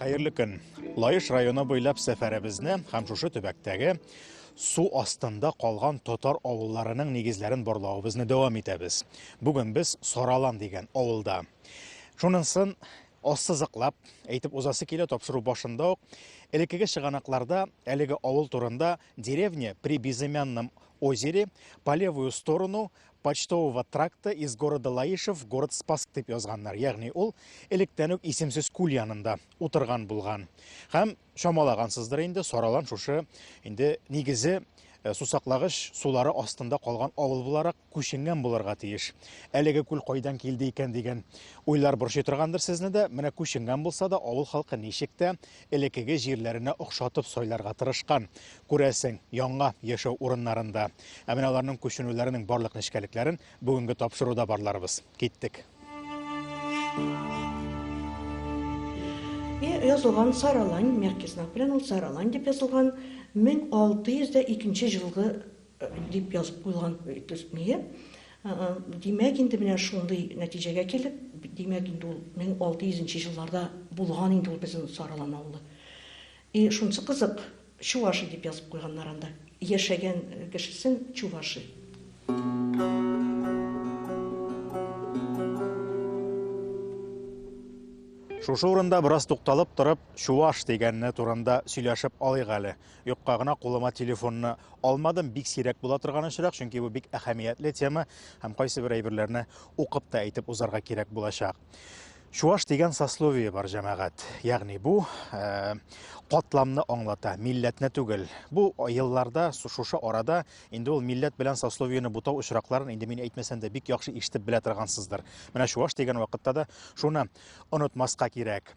Хәерле көн. Лаеш районы буйлап сәфәребезне һәм шушы төбәктәге су астында калган татар авылларының нигезләрен барлавыбызны дәвам итәбез. Бүген без Саралан дигән авылда. Шунысын ассызыклап әйтеп узасы килә тапшыру башында ук. Элеккеге чыганакларда әлеге авыл турында деревня при безымянном озере по левую сторону Почтового тракта из города Лаишев в город Спасск дип язганнар, ягъни ул электән үк исемсез күл янында утырган булган. Һәм чамалагансыздыр инде, Саралан шушы инде нигезе э, сусаклагыч сулары астында калган авыл буларак күченгән булырга тиеш. Әлеге күл кайдан килде икән дигән уйлар борчый торгандыр сезне дә. Менә күченгән булса да, авыл халкы ничек тә элеккеге җирләренә охшатып сайларга тырышкан, күрәсең, яңа яшәү урыннарын да. Ә менә аларның күченүләренең барлык нечкәлекләрен бүгенге тапшыруда барларбыз. Киттек! И язылган Саралань, мягкий знак белән ул Саралань дип язылган, 1602 нче җылгы дип язып куелган, нигә? Димәк, инде менә шундый нәтиҗәгә килеп, димәк, инде ул 1600 нче елларда булган инде ул безнең Саралан авылы. И шунсы кызык, Чуваши дип язып куйганнар анда, яшәгән кешесен Чуваши. Шушы урында бераз тукталып торып, Чуваш дигәне турында сөйләшеп алыйк әле. Юкка гына кулыма телефонны алмадым. Бик сирәк була торган очрак, чөнки бу бик әһәмиятле тема һәм кайсы бер әйберләрне укып та әйтеп узарга кирәк булачак. Чуаш дигән сословие бар җәмәгать. Ягъни бу э, катламны аңлата, милләтне түгел. Бу елларда, шушы арада инде ул милләт белән сословиене бутау очракларын инде мин әйтмәсәм дә бик яхшы ишетеп белә торгансыздыр. Менә чуаш дигән вакытта да шуны онытмаска кирәк.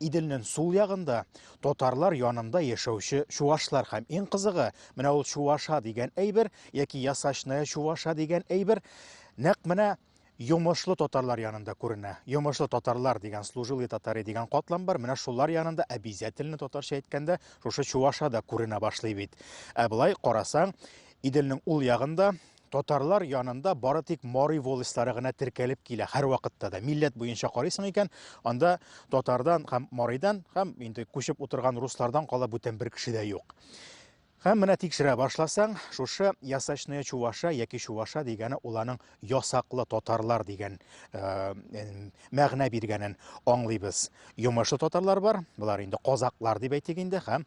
Иделнен сул ягында, татарлар янында яшәүче чувашлар һәм иң кызыгы, менә ул чуваша дигән әйбер яки ясачная чуваша дигән әйбер нәкъ менә йомышлы татарлар янында күренә. Йомышлы татарлар дигән служилые татары дигән катлам бар, менә шулар янында обязательно татарча әйткәндә шушы чуваша да күренә башлый бит. Ә былай карасаң, Иделнең ул ягында Татарлар янында бары тик Мари волостьлары гына теркәлеп килә һәрвакытта да. Милләт буенча карыйсың икән, анда татардан һәм Маридан һәм инде күчеп утырган руслардан кала бүтән бер кеше дә юк. Һәм менә тикшерә башласаң, шушы ясачная чуваша яки чуваша дигәне ул аның ясаклы татарлар дигән э, мәгънә биргәнен аңлыйбыз. Йомышлы татарлар бар, болар инде казаклар дип әйтик инде, һәм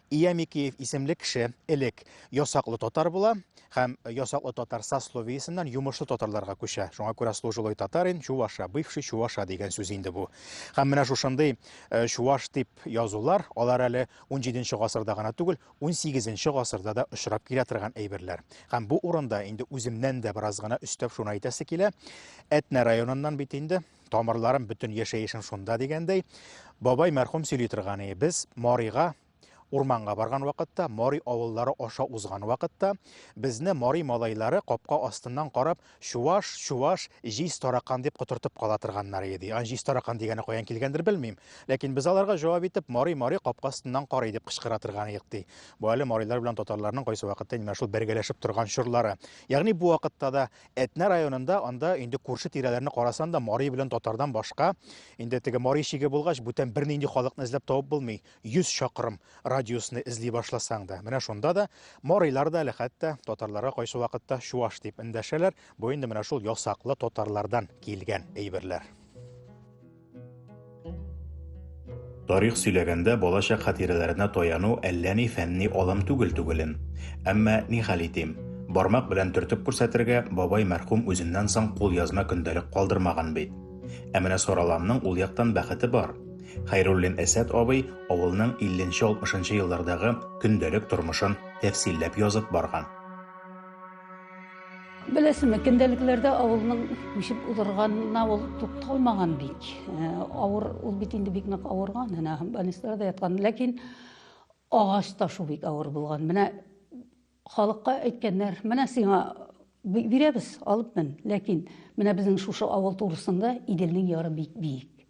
Ия Микеев исемле кеше элек ясаклы татар була һәм ясаклы татар сословиесеннән йомышлы татарларга күчә. Шуңа күрә служилый татарин, чуваша, бывший чуваша дигән сүз инде бу. Һәм менә шушындый э, чуваш дип язулар, алар әле 17 гасырда гына түгел, 18 гасырда да очрап килә торган әйберләр. Һәм бу урында инде үземнән дә бераз гына өстәп шуны әйтәсе килә. Әтнә районыннан бит инде тамырларым, бөтен яшәешем шунда дигәндәй, бабай мәрхүм сөйли торган ие. Без Марига урманга барган вакытта, Мари авыллары аша узган вакытта, безне Мари малайлары капка астыннан карап, чуваш, чуваш, җиз таракан дип котыртып кала торганнар иде. Ан җиз таракан дигәне каян килгәндер белмим, ләкин без аларга җавап итеп, Мари, Мари капка астыннан карый дип кычкыра торган идек ди. Бу әле марилар белән татарларның кайсы вакытта инде шул бергәләшеп торган чорлары. Ягъни бу вакытта да Әтнә районында анда инде күрше тирәләрне карасан да мари белән татардан башка инде теге мари шиге булгач бүтән бернинди халыкны эзләп табып булмый. 100 чакрым радиусны эзли башласаң да. Менә шунда да марилар да әле хәтта татарларга кайсы вакытта чуаш дип эндәшәләр. Бу инде менә шул ясаклы татарлардан килгән әйберләр. Тарих сөйләгәндә балачак хатирәләренә таяну әллә ни фәнни алым түгел түгелен. Әмма ни хәл итим, бармак белән төртеп күрсәтергә бабай мәрхүм үзеннән соң кул язма көндәлек калдырмаган бит. Ә менә Сараланның ул яктан бәхете бар. Хәйруллин Әсәт абый авылның 50-60 еллардагы көндәлек тормышын тәфсилләп язып барган. Беләсеңме, көндәлекләрдә авылның үсеп узырганына ул тукталмаган бик. Э, авыр, ул бит инде бик нык авырган, әнә больницаларда яткан. Ләкин агач ташу бик авыр булган. Менә халыкка әйткәннәр, менә сиңа бирәбез, алып мен. Ләкин менә безнең шушы авыл турысында Иделнең яры бик биек.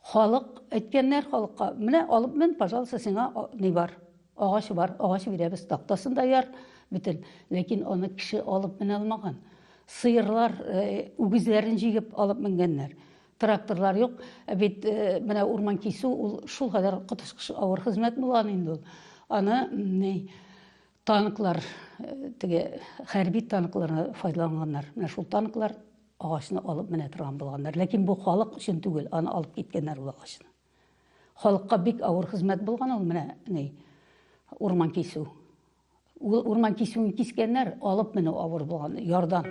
Халык, әйткәннәр халыкка, менә алып мен, пожалуйста, сиңа ни бар? Агач бар, агач бирәбез, тактасын да яр, бөтен. Ләкин аны кеше алып менә алмаган. Сыерлар, э, үгезләрен җигеп алып менгәннәр. Тракторлар юк. Ә бит э, менә урман кисү ул шул кадәр коточкыч авыр хезмәт булган инде ул. Аны Танклар, теге хәрби танкларны файдаланганнар. Менә шул танклар агачны алып менә торган булганнар. Ләкин бу халык өчен түгел, аны алып киткәннәр ул агачны. Халыкка бик авыр хезмәт булган ул менә ни урман кисү. Ул урман кисүен кискәннәр, алып менә авыр булган ярдан.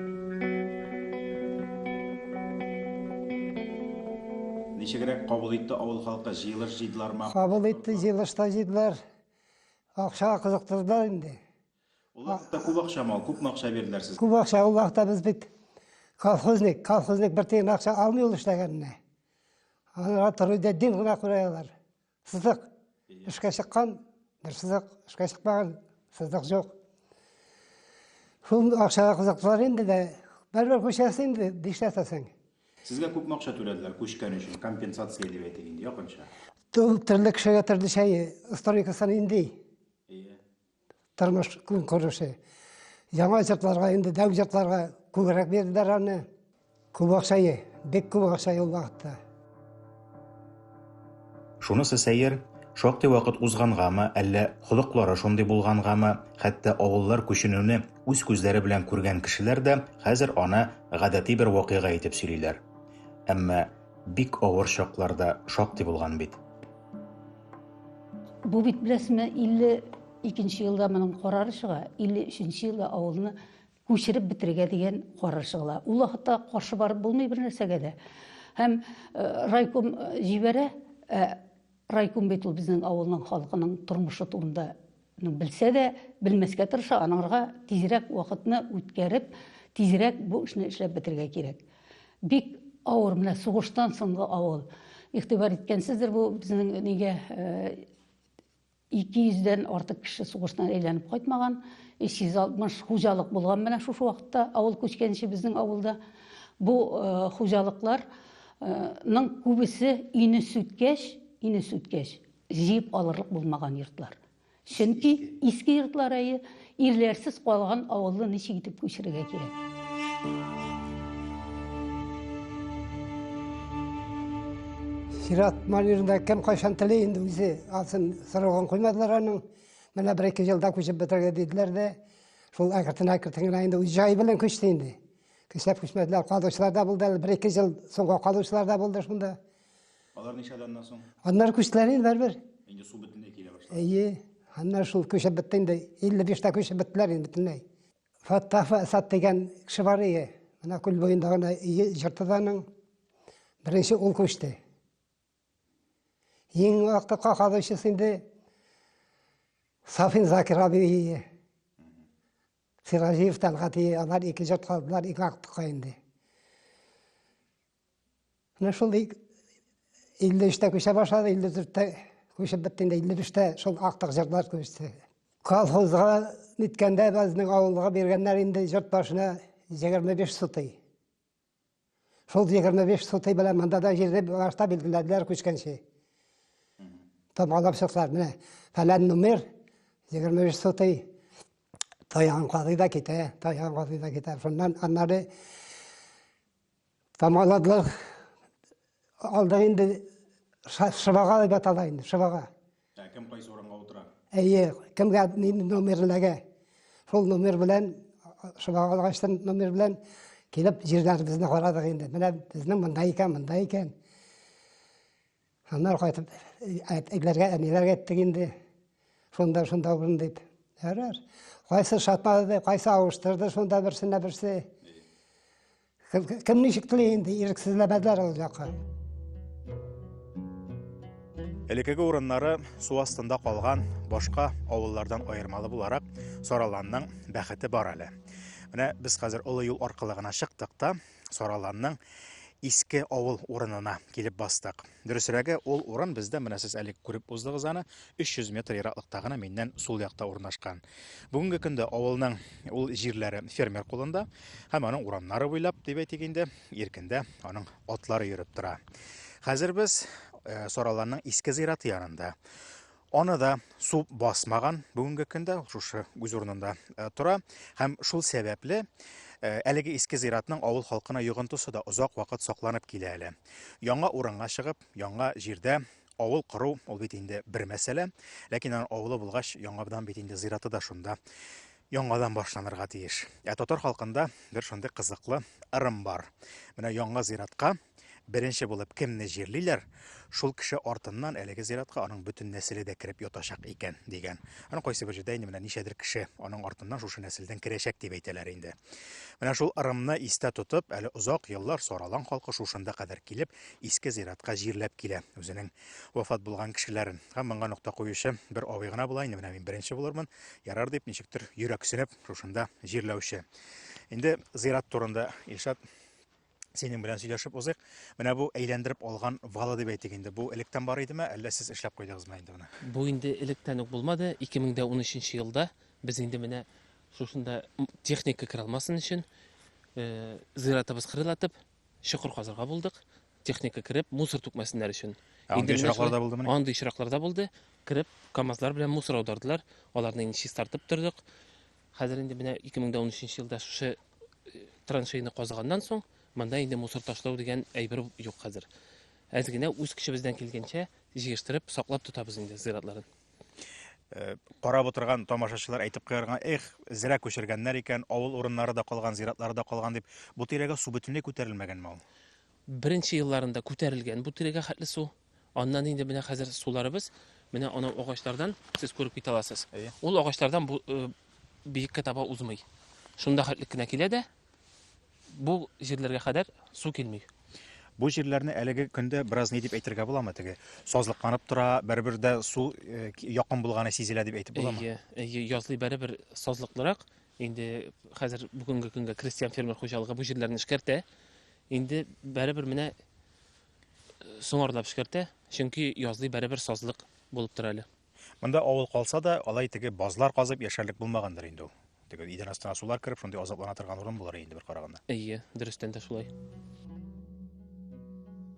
Ничегрәк кабул итте авыл халкы җыелыш җыйдылармы? Кабул итте, җыелышта җыйдылар. Акчага кызыктырдылар инде. Ул вакытта күп акчамы ул? Күпме акча бирделәр сезгә? Күп акча ул вакытта без бит колхозник, колхозник бер тиен акча алмый ул эшләгәненә. Алар торый да дин гына күрә алар. Сызык. Эшкә чыккан, бер сызык, эшкә чыкмаган, сызык юк. Шул акчага кызыктылар инде дә, бәрбер күчәсе инде, дишләтәсең. Сезгә күпме акча түләделәр күчкән өчен, компенсация дип әйтик инде, якынча? Төрле кешегә төрле шәй, историкасын инде. Тормыш күн күреше. Яңа җыртларга инде дәү җыртларга күбрәк бирделәр аны. Күп акча, бик күп акча ул вакытта. Шунысы сәер, шактый вакыт узгангамы, әллә холыклары шундый булгангамы, хәтта авыллар күченүне үз күзләре белән күргән кешеләр дә хәзер аны гадәти бер вакыйга итеп сөйлиләр. Әмма бик авыр чаклар да шактый булган бит. Бу бит, беләсезме, 52 нче елда моның карары чыга, 53 нче елда авылны күчереп бетерергә дигән карар чыгыла. Ул вакытта каршы барып булмый бер нәрсәгә дә. Һәм райком җибәрә, ә райком бит ул безнең авылның халкының тормышы турында ну, белсә дә, белмәскә тырыша, аныңырга тизрәк вакытны үткәреп, тизрәк бу эшне эшләп бетергә кирәк. Бик авыр менә сугыштан соңгы авыл. Игътибар иткәнсездер бу безнең нигә Ике йөздән артык кеше сугыштан әйләнеп кайтмаган, 360 хуҗалык булган менә шушы вакытта авыл күчкәнче безнең авылда. Бу хуҗалыклар ның күбесе ине сүткәч, ине сүткәч, җыеп алырлык булмаган йортлар. Чөнки иске йортлар әйе, Ирләрсез калган авылны ничек итеп күчерергә кирәк? Сират Марирында кем кайчан теле инде үзе алсын сорауын куймадылар аның. Менә бер ике елда күчеп бетергә диделәр дә, шул әкертен әкертен генә инде үз җай белән күчте инде. Көчләп күчмәделәр, калучылар да булды әле, бер ике ел соңга калучылар да булды шунда. Алар ничә даннан соң? Аннары күчтеләр инде бер. Инде су бөтенләй килә башлады. Әйе. Аннары шул күчеп бетте инде. 55 та күчеп беттеләр инде бөтенләй. Фаттаф Асад дигән кеше бар иде. Менә күл буенда гына өе җыртыданың. Беренче ул күчте. Иң вакытта какадучысы инде Сафин Закир абый. Сиразиев Талгат алар ике җырт калдылар, ике вакытка инде. Менә шул 53-тә күчә башлады, 54-тә күчеп бетте, 55-тә шул актык җырлар күчте. Колхозга ниткәндә безнең авылга биргәннәр инде җырт башына 25 сутый. Шул 25 сутый белән монда да җирне башта билгеләделәр күчкәнче. Тамалап чыктылар, менә фәлән номер 25 сутый таян кадый да китә, таян кадый да китә. Шуннан аннары Тамаладлар алда инде шыбага дип атала инде, шыбага. Ә кем кайсы урынга утыра? Әйе, кемгә номерләгә. Шул номер белән шыбага алгачтан номер белән килеп җирләребезне карадык инде. Менә безнең монда икән, монда икән. Аннары кайтып, әтиләргә, әниләргә әйттек инде. Шунда, шунда булдым дип. Ярар. Кайсы шатмады, кайсы авыштырды, шунда берсенә берсе. Кем ничек тели инде, ирексезләмәделәр ул якка. Элекеге урыннары су астында калган башка авыллардан аермалы буларак Сараланның бәхете бар әле. Менә без хәзер олы юл аркылы гына чыктык та, Сараланның иске авыл урынына килеп бастык. Дөресрәге, ул урын бездә менә сез әле күреп уздыгыз аны, 300 метр ераклыкта гына миннән сул якта урнашкан. Бүгенге көндә авылның ул җирләре фермер кулында һәм аның урамнары буйлап дип әйтик инде, иркендә аның атлары йөреп тора. Хәзер без э, Сараланның иске зираты янында. Аны да су басмаган бүгенге көндә, ул шушы үз урынында э, тора. Һәм шул сәбәпле э, әлеге иске зиратның авыл халкына йогынтысы да озак вакыт сакланып килә әле. Яңа урынга чыгып, яңа җирдә авыл кору ул бит инде бер мәсьәлә, ләкин аның авылы булгач, яңадан бит инде зираты да шунда яңадан башланырга тиеш. Ә татар халкында бер шундый кызыклы ырым бар. Менә яңа зиратка Беренче булып кемне җирлиләр, шул кеше артыннан әлеге зиратка аның бөтен нәселе дә кереп ятачак икән, дигән. Аны кайсы бер җирдә инде менә ничәдер кеше аның артыннан шушы нәселдән керәчәк дип әйтәләр инде. Менә шул ырымны истә тотып, әле озак еллар Саралан халкы шушында кадәр килеп, иске зиратка җирләп килә үзенең вафат булган кешеләрен. Һәм моңа нокта куючы бер абый гына була, инде менә мин беренче булырмын, ярар дип, ничектер йөрәксенеп, шушында җирләүче. Инде зират турында Илшат синең белән сөйләшеп узыйк. Менә бу әйләндереп алган вала дип әйтик инде. Бу электән бар идеме, әллә сез эшләп куйдыгызмы инде моны? Бу инде электән үк булмады. 2013 елда без инде менә шушында техника керә алмасын өчен э, зыяратыбыз кырылатып, чокыр казырга булдык. Техника кереп, мусор түкмәсеннәр өчен. Ә андый очракларда булдымы? Андый очракларда булды. Кереп, КАМАЗлар белән мусор аудардылар. Аларны инде чистартып тордык. Хәзер инде менә 2013 елда шушы э, траншейны казыганнан соң, монда инде мусор ташлау дигән әйбер юк хәзер. Әз генә үз көчебездән килгәнчә җыештырып, саклап тотабыз инде зиратларын. Э, карап отырган тамашачылар әйтеп куярга, эх, зря күчергәннәр икән, авыл урыннары да калган, зиратлары да калган дип. Бу тирәгә су бөтенләй күтәрелмәгәнме ул? Беренче елларында күтәрелгән бу тирәгә хәтле су, Аннан инде менә хәзер суларыбыз менә анау агачлардан сез күреп китә аласыз. Ул агачлардан бу э, биеккә таба узмый. Шунда хәтлек кенә килә дә бу җирләргә кадәр су килми. Бу җирләрне әлеге көндә бераз ни дип әйтергә буламы теге? Сазлыкланып тора, бер-бер дә су э, якын булганы сизелә дип әйтеп буламы? Әйе, әйе, язлый бер-бер сазлыклырак. Инде хәзер бүгенге көнгә крестьян фермер хуҗалыгы бу җирләрне эшкәртә. Инде бер-бер менә соңарылап эшкәртә, чөнки язлый бәребер сазлык булып тора әле. Монда авыл калса да, алай теге базлар казып яшәрлек булмагандыр инде ул. Теге идән астына сулар кереп, шундый азаплана торган урын булыр инде бер караганда. Әйе, дөрестән дә шулай.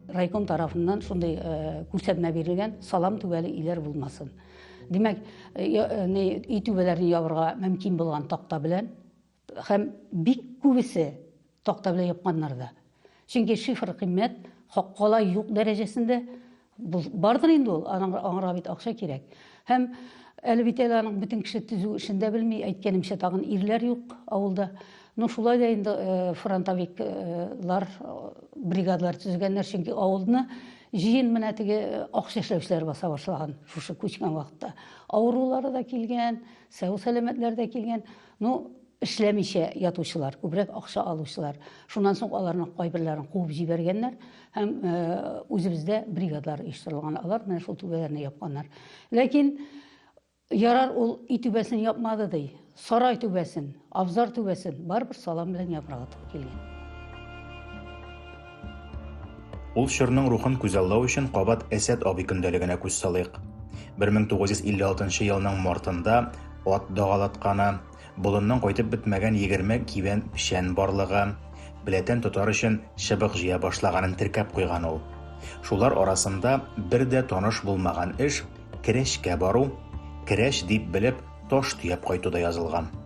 Райком тарафыннан шундый э, күрсәтмә бирелгән, салам түбәле өйләр булмасын. Димәк, э, э, өй түбәләрен ябырга мөмкин булган такта белән Һәм бик күбесе такта белән япканнар да. Чөнки шифр кыйммәт, хаккала юк дәрәҗәсендә бардыр инде ул, аңарга бит акча кирәк. Һәм әле бит әле аның бөтен кеше төзү эшен дә белми, әйткәнемчә тагын ирләр юк авылда. Ну шулай да инде э, фронтовиклар э, бригадалар төзегәннәр, чөнки авылны җыен менә теге э, акча эшләүчеләр баса башлаган шушы күчкән вакытта. Авырулары да килгән, сау сәламәтләр дә килгән. Ну, эшләмичә ятучылар, күбрәк акча алучылар. Шуннан соң аларның кайберләрен куып җибәргәннәр һәм э, үзебездә бригадлар оештырылган. Алар менә шул түбәләрне япканнар. Ләкин ярар ул өй түбәсен япмады ди. Сарай түбәсен, абзар түбәсен барыбер салам белән япырга туры килгән. Ул чорның рухын күзаллау өчен кабат Әсәт абый көндәлегенә күз салыйк. 1956 елның мартында ат дагалатканы, болынның кайтып бетмәгән 20 кибән печән барлыгы, беләтән тотар өчен чыбык җыя башлаганын теркәп куйган ул. Шулар арасында бер дә таныш булмаган эш, керәшкә бару, керәш дип белеп, таш төяп кайту да язылган.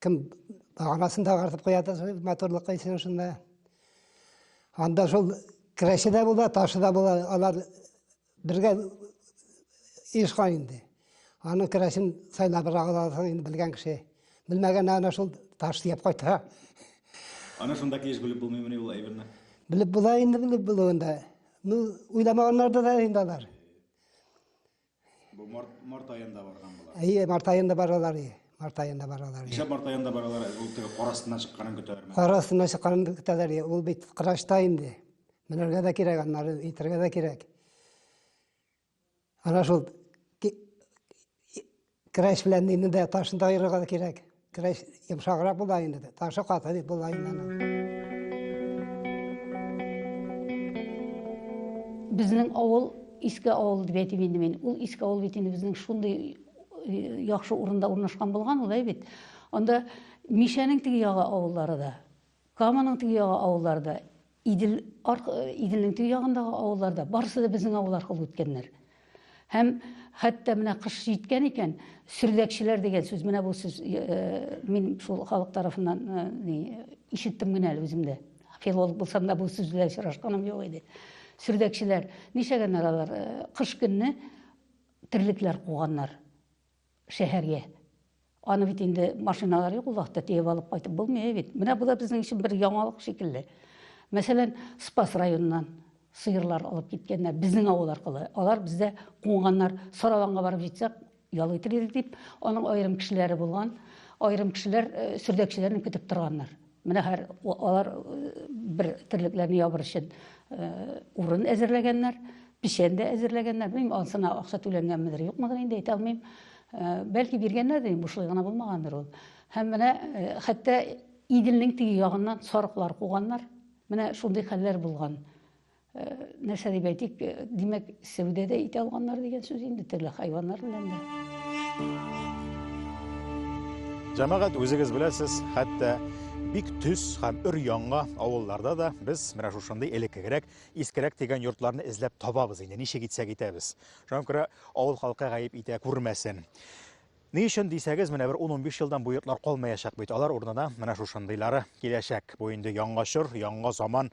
Кем арасын тагартып куя да матурлык өчен шунда. Анда шул керәше дә була, ташы да була. Алар бергә ешкан инде. Аның керәшен сайлап аласың инде белгән кеше. Белмәгән ана шул таш диеп кайта. Аны шунда килеш белеп булмыймыни ул әйберне? Белеп була инде, белеп булуында. Ну, уйламаганнар да инде алар. Бу март, март аенда барган була. Әйе, март аенда баралар. Март аенда баралар. Ничә март аенда баралар? Ул теге кар астыннан чыкканын көтәләрме? Кар астыннан чыкканын көтәләр. Ул бит кырашта инде. Менәргә дә кирәк, аннары итәргә дә кирәк. Ана шул кыраш белән инде дә ташын да аерырга да кирәк. Крәс йомшаграк була инде. Ташы каты дип була инде аны. Безнең авыл иске авыл дип әйтим инде мин. Ул иске авыл бит инде безнең шундый э, яхшы урында урнашкан булган ул әй бит. Анда Мишәнең теге ягы авыллары да Каманың теге ягы авыллары да, Идел, арк, Иделнең теге ягындагы авыллар да, барысы да безнең авыл аркылы үткәннәр. Һәм хәтта менә кыш җиткән икән, сөрләкчеләр дигән сүз, менә бу сүз, э, мин шул халык тарафыннан э, ишеттем генә әле үзем дә. Филолог булсам да бу сүз белән очрашканым юк иде. Сөрләкчеләр, нишәгәннәр алар, э, кыш көнне терлекләр куганнар. шәһәргә. Аны бит инде машиналар юк ул вакытта тиеп алып кайтып булмый бит. Менә бу да безнең өчен бер яңалык шикелле. Мәсәлән, Спас районыннан сыерлар алып киткәннәр безнең авыл аркылы. Алар бездә куңганнар, Сараланга барып җитсәк, ял итер идек дип, аның аерым кешеләре булган, аерым кешеләр э, сөрдәкчеләрне көтеп торганнар. Менә хәр алар бер терлекләрне ябыр өчен урын әзерләгәннәр, печән дә әзерләгәннәр. Белмим, ансына акча түләнгәнмедер, юкмыдыр инде әйтә алмыйм. Бәлки биргәннәрдер, бушлай гына булмагандыр ул. Һәм менә хәтта Иделнең теге ягыннан сарыклар куганнар. Менә шундый хәлләр булган. Э, нәрсә дип әйтик э, димәк сәүдә дә итә алганнар дигән сүз инде төрле хайваннар белән дә җәмәгать үзегез беләсез хәтта бик төс һәм өр яңа авылларда да без менә шушындый элеккегрәк искерәк дигән йортларны эзләп табабыз инде ничек итсәк итәбез шуңа күрә авыл халкы гаеп итә күрмәсен Ни өчен дисәгез, менә бер ун-унбиш елдан бу йортлар калмаячак бит, алар урынына менә шушындыйлары киләчәк. Бу инде яңа чор, яңа заман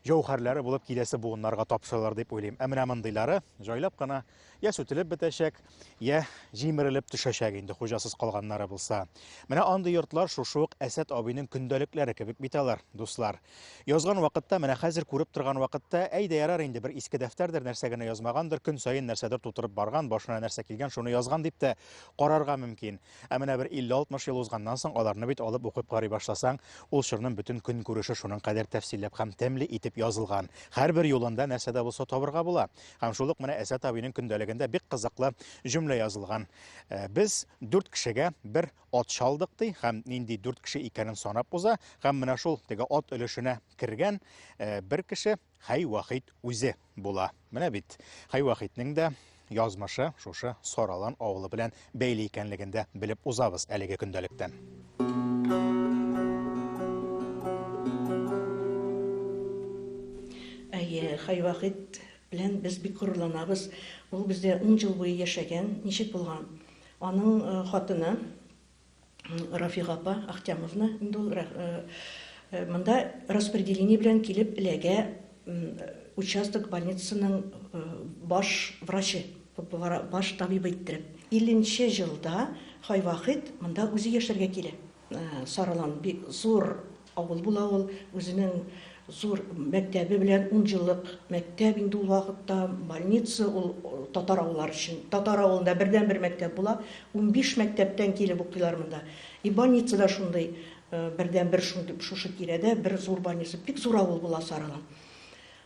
җәүһәрләре булып киләсе буыннарга тапшырылыр дип уйлыйм. Ә менә мондыйлары җайлап кына я сүтелеп бетәчәк, я җимерелеп төшәчәк инде хуҗасыз калганнары булса. Менә андый йортлар шушы ук Әсәт абыйның көндәлекләре кебек бит алар, дуслар. Язган вакытта, менә хәзер күреп торган вакытта, әй дә ярар инде, бер иске дәфтәрдер, нәрсә генә язмагандыр, көн саен нәрсәдер тутырып барган, башына нәрсә килгән, шуны язган дип тә карарга мөмкин. Ә менә бер 50-60 ел узганнан соң аларны бит алып укып карый башласаң, ул чорның бөтен көнкүреше шуның кадәр тәфсилләп һәм тәмле итеп язылган. Һәрбер юлында нәрсә дә булса табырга була. Һәм шул ук менә Әсәт абыйның көндәлегендә бик кызыклы җөмлә язылган. Без, дүрт кешегә, бер ат чалдык ди һәм нинди дүрт кеше икәнен санап уза һәм менә шул теге ат өлешенә кергән э, бер кеше Хәй Вахид үзе була. Менә бит Хәй Вахидның да язмышы шушы Саралан авылы белән бәйле икәнлеген дә белеп узабыз әлеге көндәлектән. Әйе, Хәй Вахид белән без бик горурланабыз. Ул бездә ун ел буе яшәгән. Ничек булган? Аның хатыны Рафига апа Ахтямовна инде ул монда распределение белән килеп эләгә участок больницасының баш врачы, баш табибы иттереп. Илленче җылда Хайвахит монда үзе яшәргә килә. Саралан бик зур авыл була ул. Үзенең зур мәктәбе белән, ун еллык мәктәп инде ул вакытта, больница, ул татар авыллары өчен. Татар авылында бердәнбер мәктәп була. Унбиш мәктәптән килеп укыйлар монда. И больница да шундый, бердәнбер шундый, шушы тирәдә бер зур больница. Бик зур авыл була Саралан.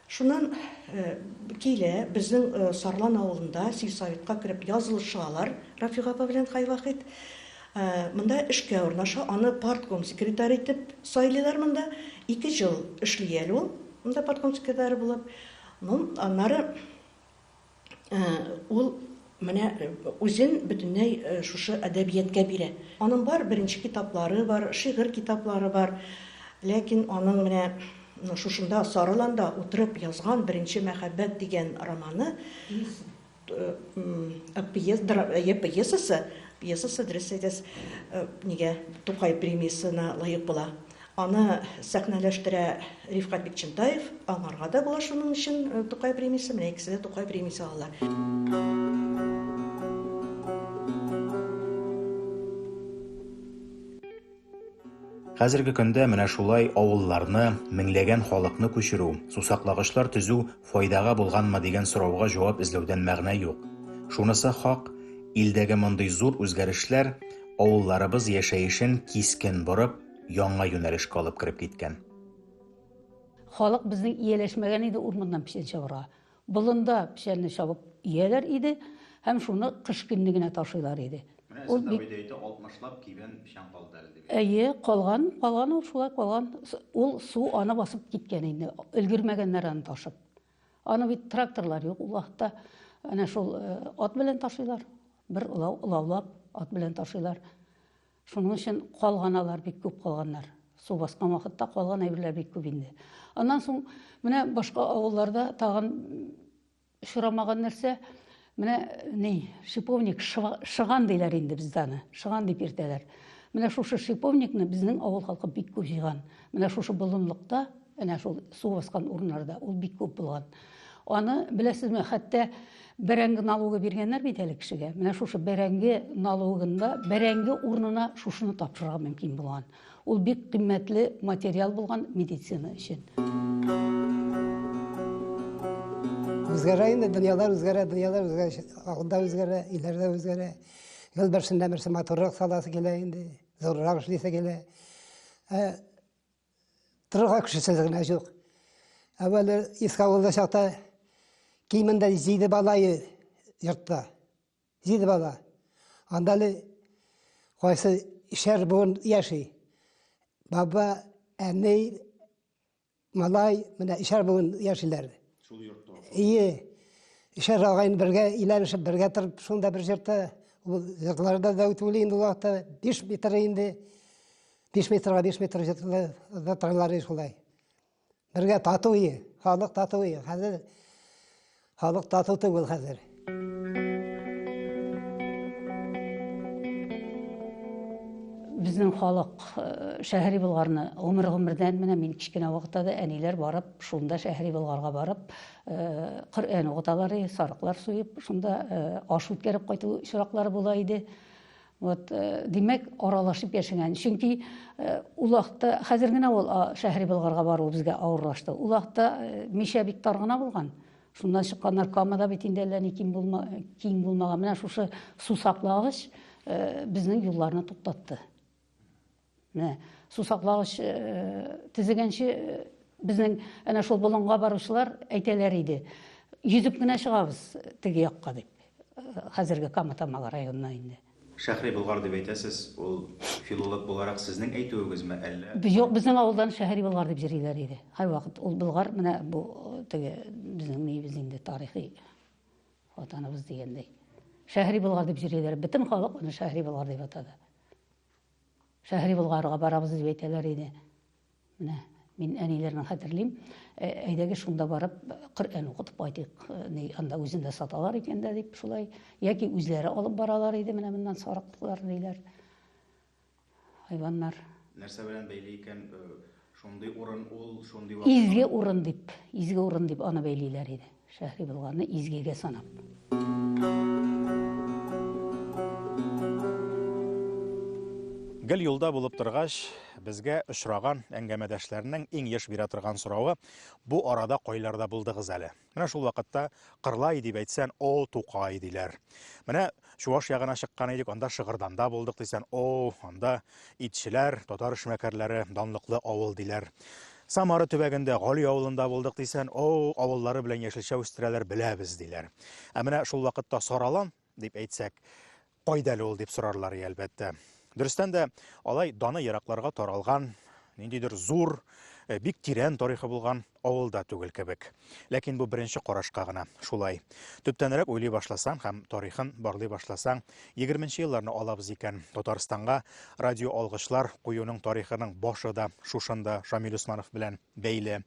Шуннан килә, безнең Сарлан авылында сельсоветка кереп язылыша алар Рафига апа белән Хайвахит. Монда эшкә урнаша, аны партком секретаре итеп сайлыйлар монда. Ике ел эшли әле ул монда партком секретаре булып. Ну, аннары Ул менә үзен бөтенләй шушы әдәбияткә бирә. Аның бар беренче китаплары бар, шигырь китаплары бар. Ләкин аның менә шушында Сарыланда утырып язган Беренче мәхәббәт дигән романы, пьесасы, пьесасы, дөрес әйтәсез, нигә Тукай премиясенә лаек була. Аны сәхнәләштерә Рифкать Бикчентаев. Аңарга да була шуның өчен Тукай премиясе. Менә икесе дә Тукай премиясе алалар. Хәзерге көндә менә шулай авылларны, меңләгән халыкны күчерү, сусаклагычлар төзү файдага булганмы дигән сорауга җавап эзләүдән мәгънә юк. Шунысы хак, илдәге мондый зур үзгәрешләр авылларыбыз яшәешен кискен борып, Яңа юнәлешкә алып кереп киткән. Халык безнең ияләшмәгән иде урманнан печән чабырга. Болында печәнне чабып ияләр иде һәм шуны кыш көнне генә ташыйлар иде. Менә Ул бик Сәтабыйда әйтә, 60 лап кибән печән калды әле дип. Әйе, калган, калган ул шулай калган. Ул су аны басып киткән инде, өлгермәгәннәр аны ташып. Аны бит тракторлар юк ул вакытта. Әнә шул э, ат белән ташыйлар. Бер олау, олаулап ат белән ташыйлар. Шуның өчен калган алар бик күп калганнар. Су баскан вакытта калган әйберләр бик күп инде. Аннан соң менә башка авылларда тагын очрамаган нәрсә, менә ни, шиповник шыган диләр инде бездә аны. Шыган дип иртәләр. Менә шушы шиповникны безнең авыл халкы бик күп җыйган. Менә шушы болынлыкта Әнә шул су баскан урыннарда ул бик күп булган. Аны беләсезме, хәтта бәрәңге налогы биргәннәр бит әле кешегә. Менә шушы бәрәңге налогында бәрәңге урынына шушыны тапшырырга мөмкин булган. Ул бик кыйммәтле материал булган медицина өчен. Үзгәрә инде дөньялар үзгәрә, дөньялар үзгәрә, алда үзгәрә, иләрдә үзгәрә. Ел берсендә берсе матуррак саласы килә инде, зуррак эшлисе килә. Ә Торырга кешесе генә юк. Әвәле Искавылда чакта кимендә җиде бала йортта. Җиде бала. Анда әле кайсы шәр буын яши. Баба, әни, малай, менә шәр буын яшиләр. Шул йортта. Ие. Шәр агайын бергә иләнешеп, бергә торып, шунда бер җырта. Ул җырларда да үтүле инде вакыты, биш метр инде. Биш метрга биш метр җыттыралар шулай. Бергә тату ие, халык тату ие. Хәзер халык тату түгел хәзер. Безнең халык э, шәһри Болгарны гомер гомердән менә мин кечкенә вакытта да әниләр барып, шунда шәһри Болгарга барып, э, Коръән укыталар, сарыклар суеп, шунда э, аш үткәреп кайту чираклары була иде. Вот, э, димәк, аралашып яшәгән. Чөнки э, ул вакытта хәзер генә ул Шәһри Болгарга бару безгә авырлашты. Ул вакытта э, Мишә бик тар гына булган. Шуннан чыкканнар Камада бит инде әллә ни киң булма, киң булмаган. Менә шушы сусаклагыч безнең юлларны туктатты. Менә су саклагыч төзегәнче безнең әнә шул болынга баручылар әйтәләр иде. Йөзеп кенә чыгабыз теге якка дип. Хәзерге Кама Тамагы районына инде. Шәһри Болгар дип әйтәсез, ул филолог буларак сезнең әйтүегезме, әллә? Юк, безнең авылдан Шәһри Болгар дип җырлыйлар иде. Һәрвакыт ул Болгар менә бу теге безнең ниебез инде тарихи ватаныбыз дигәндәй. Шәһри Болгар дип җырлыйлар. Бөтен халык аны Шәһри Болгар дип атады. Шәһри Болгарга барабыз дип әйтәләр иде. Менә мин әниләрне хәтерлим. Ә, әйдәгез шунда барып Коръән укытып кайтыйк. Э, ни анда үзендә саталар икән дә дип шулай яки үзләре алып баралар иде менә моннан сарыклар диләр. Хайваннар. Нәрсә белән бәйле икән э, Шундый урын ул, шундый вакыт. Изге урын дип, изге урын дип аны бәйлиләр иде. Шәһри булганны изгегә санап. Гел юлда булып торгач, безгә очраган әңгәмәдәшләрнең иң еш бирә торган соравы, бу арада кайларда булдыгыз әле? Менә шул вакытта Кырлай дип әйтсән, о, Тукай диләр. Менә Чуваш ягына чыккан идек, анда Шыгырданда булдык дисән, о, анда итчеләр, татар эшмәкәрләре, данлыклы авыл диләр. Самара төбәгендә Гали авылында булдык дисән, о, авыллары белән яшелчә үстерәләр, беләбез диләр. Ә менә шул вакытта Саралан дип әйтсәк, Кайда әле ул дип сорарлар и, әлбәттә. Дөрестән дә, алай даны еракларга таралган, ниндидер зур, э, бик тирән тарихы булган авылда түгел кебек. Ләкин бу беренче карашка гына шулай. Төптәнрәк уйлый башласаң һәм тарихын барлый башласаң, 20 елларны алабыз икән, Татарстанга радио алгычлар куюның тарихының башы да шушында Шамил Усманов белән бәйле.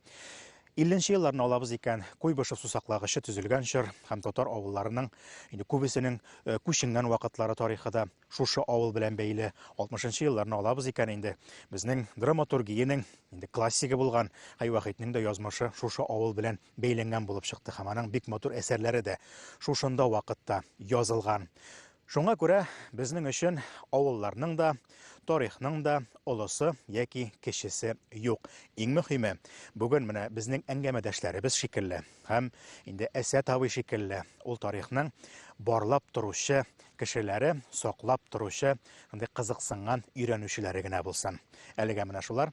Илленче елларны алабыз икән, Куйбышев сусаклагычы төзелгән чор һәм татар авылларының, инде күбесенең күченгән вакытлары тарихы да шушы авыл белән бәйле. 60 нчы елларны алабыз икән инде, безнең драматургиянең инде классигы булган Хәй Вахитнең дә язмышы шушы авыл белән бәйләнгән булып чыкты һәм аның бик матур әсәрләре дә шушында вакытта язылган. Шуңа күрә безнең өчен авылларның да, тарихның да олысы яки кечесе юк. Иң мөһиме, бүген менә безнең әңгәмәдәшләребез шикелле һәм инде Әсәт абый шикелле ул тарихның барлап торучы кешеләре, саклап торучы, шундый кызыксынган өйрәнүчеләре генә булсын. Әлегә менә шулар